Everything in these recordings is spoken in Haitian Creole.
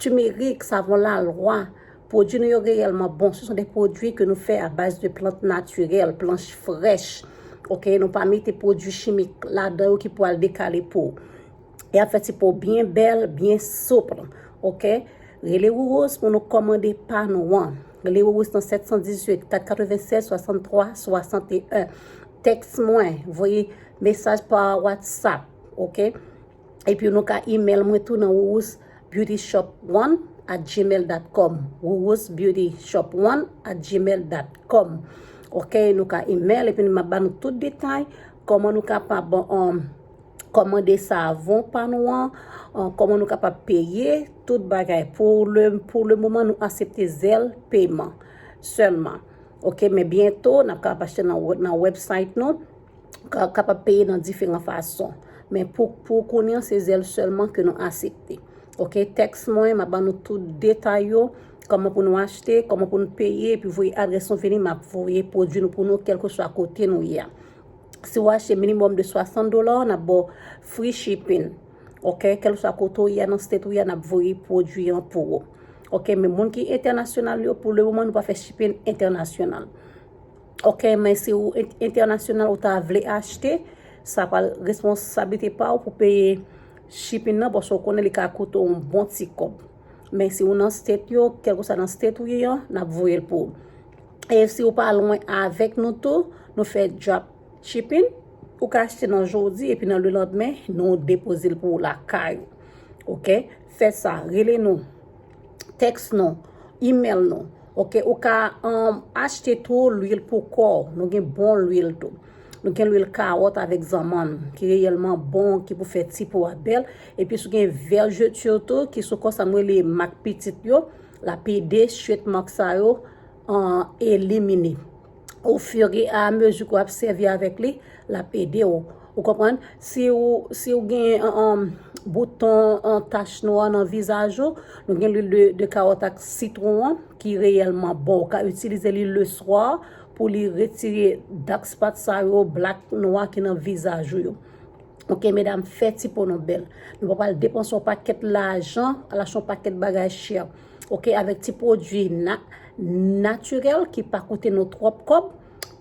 Turmeric, savon la lwa, pwodwi nou yo reyèlman bon. Se son de pwodwi ke nou fè a baz de plant natirèl, planch frèch. Ok, nou pa mete pwodwi chimik ladan yo ki pou al dekale po. E ap fè ti po byen bèl, byen soupl. Ok, rele Rurose pou nou kòmande pa nou an. Rele Rurose nan 718 496 63 61. Tèks mwen, voye mesaj pa WhatsApp. Ok. Epi nou ka email mwen tou nan wourousbeautyshop1 at gmail.com wourousbeautyshop1 at gmail.com Ok, nou ka email epi nou ma ban nou tout detay Koman nou kapab um, komande savon pa nou an um, Koman nou kapab peye tout bagay Pou le, pou le moman nou asepte zèl peman Sèlman Ok, men byento nap kapab achte nan, nan website nou kapab peye nan diferan fason. Men pou kounye an se zèl sèlman ke nou asepte. Ok, tèks mwen, m ap ban nou tout detay yo, kòman pou nou achte, kòman pou nou peye, epi voye adrès nou vini, m ap voye pwodui nou pou nou kelke swa kote nou ye a. Si ou achte minimòm de 60 dola, n ap ba w free shipping. Ok, kelke swa kote ou ye a nan state ou ye a, n ap voye pwodui an pou ou. Ok, men moun ki entènasyonal yo, pou le moman nou pa fè shipping entènasyonal. Ok men si ou entènasyonal ou ta vle achte, sa pral responsablite pa ou pou peye shipping nan paske ou konnen li ka koute ou bon ti kòb. Men si ou nan state yo, kèlke sa nan state ou ye an, n ap voye l pou ou. E si ou pa lwen avèk nou tou, nou fè drop shipping, ou ka achte nan jodi epi nan le landmen nou depoze l pou ou lakay ou. Ok, fè sa, rele nou. text nou, email nou, ok, ou ka achte tou lwil pou kò, nou gen bon lwil tou, nou gen lwil kawòt avèk zanmann, ki reyèlman bon, ki pou fè ti po a bèl, epi sou gen vergeture tou, ki sou kò sa mwen li mak pitit yo, la pede, chwet mak sa yo, an elimine. au fur et à mesure que wap servi avec li, lap ede ou. Ou konprann? Si ou, si ou gen um, bouton, an tache nwa nan vizaj ou, nou gen l'huile de, de carotte ak citron an, ki reyèlman bon. Ou ka itilize li le soir, pou li retire dark spot sa yo, black, nwa ki nan vizaj ou yo. Ok, medam, fè ti po nou bèl. Nou pa pral depanse yon pakèt lajan, al achte yon pakèt bagay chè. ok avèk ti pwodwi natirèl ki pa koute nou twòp kòb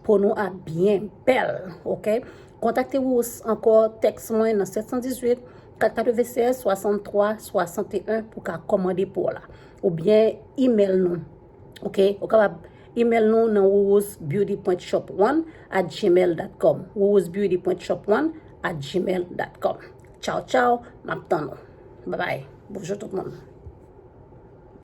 po nou ap byen bèl ok kontakte wou ankò tèks mwen nan 718 496 63 61 pou ka kòmande po la ou byen imèl nou ok ou kapab imèl nou nan wourouzbeauty.shop1 at gmail.com wourouzbeauty.shop1 at gmail.com Tchaw tchaw, map tann ou. Babay, bonjou tout moun.